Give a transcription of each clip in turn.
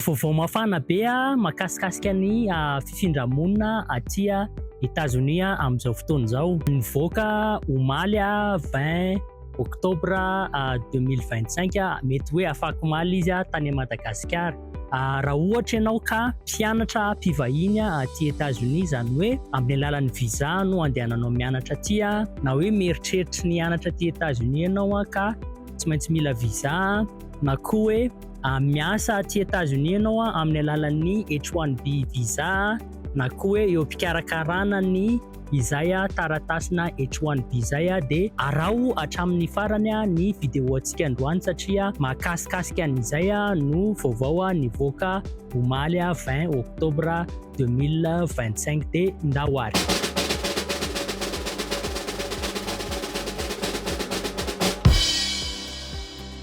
Vaovao mafana be makasikasika ny fifindra-monina aty Etazonia amin'izao fotoana izao. Nivoaka omaly vingt octobre deux mille vingt cinq, mety hoe afakomaly izy tany Madagasikara. Raha ohatra ianao ka mpianatra mpivahiny aty Etazonia, izany hoe amin'ny alalan'ny visa no andehananao mianatra aty, na hoe mieritreritra ny hianatra aty Etazonia ianao ka tsy maintsy mila visa na koa hoe Miasa aty Etazonia ianao amin'ny alalan'ny H-1B visa na koa hoe eo am-pikarakarana ny izay taratasina H-1B izay dia araho hatramin'ny farany ny videontsika androany satria mahakasikasika an'izay no vaovao nivoaka omaly 20 oktobra 2025 dia ndao ary.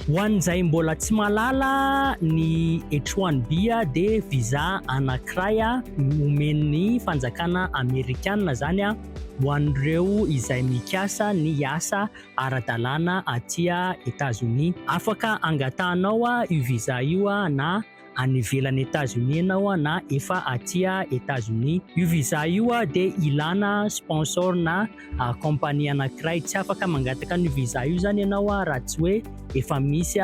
Ho an'izay mbola tsy mahalala ny H-1B dia visa anankiray omen'ny fanjakana amerikana izany ho an'ireo izay mikasa ny hiasa ara-dalàna aty Etazonia. Afaka angatahanao io visa io na. any ivelan'i Etazonia ianao na efa aty Etazonia. Io visa io dia ilana sponsor na compagnie anankiray. Tsy afaka mangataka an'io visa io zany ianao raha tsy hoe efa misy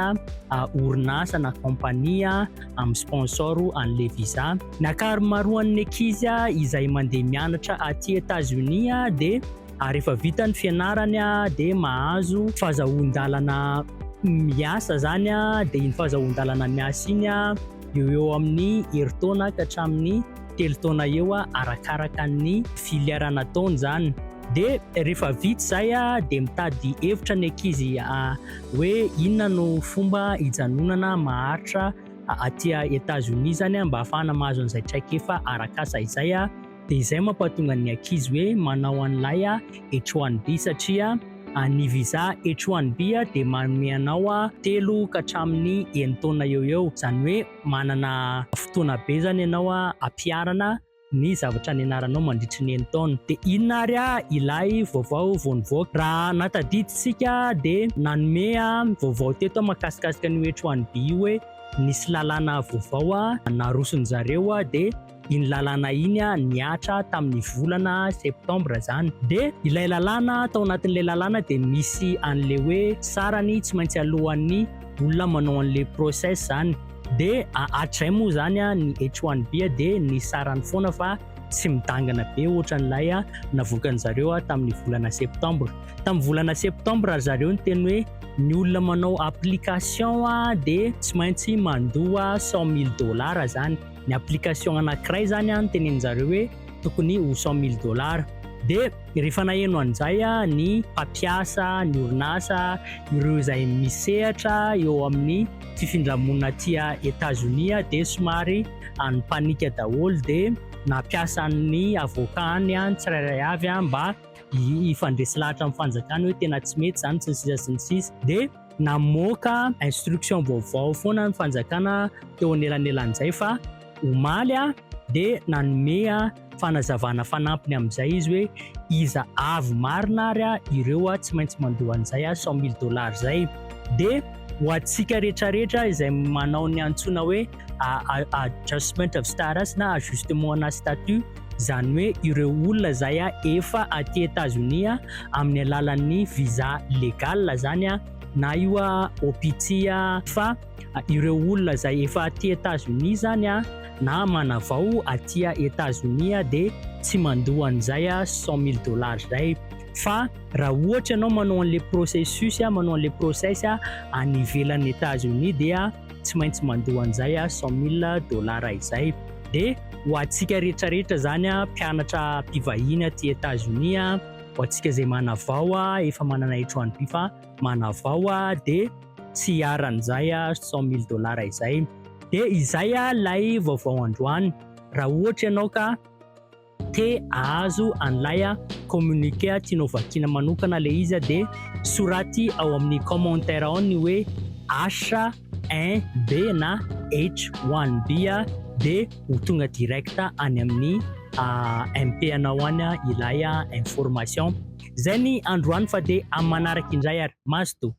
orinasa na compagnie amin'ny sponsor an'le visa. Ny ankamaroan'ny ankizy izay mandeha mianatra aty Etazonia dia ary rehefa vita ny fianarany dia mahazo fahazahoan-dalana miasa izany dia iny fahazahoan-dalana miasa iny eo eo amin'ny herintaona ka hatramin'ny telo taona eo arakaraka ny filière nataony izany dia rehefa vita izay dia mitady hevitra ny ankizy hoe inona no fomba hijanonana maharitra aty Etazonia izany mba hahafahana mahazo an'izay traikefa arak'asa izay Dia izay mampatonga ny ankizy hoe manao an'ilay H1B satria ny visa H1B dia manome anao telo ka hatramin'ny enina taona eo ho eo. Izany hoe manana fotoana be izany ianao hampiharana ny zavatra nianaranao mandritry ny enina taona. Dia inona ary ilay vaovao vao nivoaka? Raha nahatadidintsika dia nanome vaovao teto mahakasikasika an'io H1B io hoe nisy lalàna vaovao narosony zareo dia. iny lalàna iny nihatra tamin'ny volana septambra izany. Dia ilay lalàna, tao anatin'ilay lalàna dia misy an'ilay hoe sarany tsy maintsy alohan'ny olona manao an'ilay process izany. Dia hatrizay moa izany ny H1B dia ny sarany foana fa tsy midangana be ohatran'ilay navoakan'ny zareo tamin'ny volana septambra. Tamin'ny volana septambra ry zareo ny teny hoe ny olona manao application dia tsy maintsy mandoa 100 mille dollars izany. ny application anankiray izany an, teneniny zareo hoe tokony ho cent mille dollars, dia rehefa naheno an'izay ny mpampiasa, ny orinasa, ireo izay misehatra eo amin'ny fifindra-monina aty Etazonia dia somary nipanika daholo dia nampiasa an'ny avocat-ny ny tsirairay avy mba hifandresy lahatra amin'ny fanjakana hoe tena tsy mety izany sy ny sisa sy ny sisa dia Namoaka instruction vaovao foana ny fanjakana teo anelanelan'izay fa omaly dia nanome fanazavana fanampiny amin'izay izy hoe iza avy marina ary ireo tsy maintsy mandoa an'izay cent mille dollars izay dia ho antsika rehetrarehetra izay manao ny antsoina hoe adjustment of status na ajustement ana statut izany hoe ireo olona izay a efa aty Etazonia amin'ny alalan'ny visa legal izany a na io a OPT a fa ireo olona izay efa aty Etazonia izany a na manavao aty Etazonia dia tsy mandoa an'izay a 100 mille dollars izay fa raha ohatra ianao manao an'ilay processus a manao an'ilay process a any ivelan'ny Etazonia dia tsy maintsy mandoa an'izay a cent mille dollars izay de ho antsika rehetra rehetra zany a mpianatra mpivahiny aty Etats Unis a ho antsika izay manavao a efa manana etroany by fa manavao a de tsy hiaran'izay a cent mille dollars izay de izay a lay vaovao androany raha ohatra ianao ka te ahazo an'ilay communiqué tianao vakiana manokana ilay izy dia soraty ao amin'ny commentaire ao ny hoe H1B na H1B dia ho tonga direct any amin'ny MP anao any ilay information. Izay ny androany fa dia amin'ny manaraka indray ary. Mazotoa.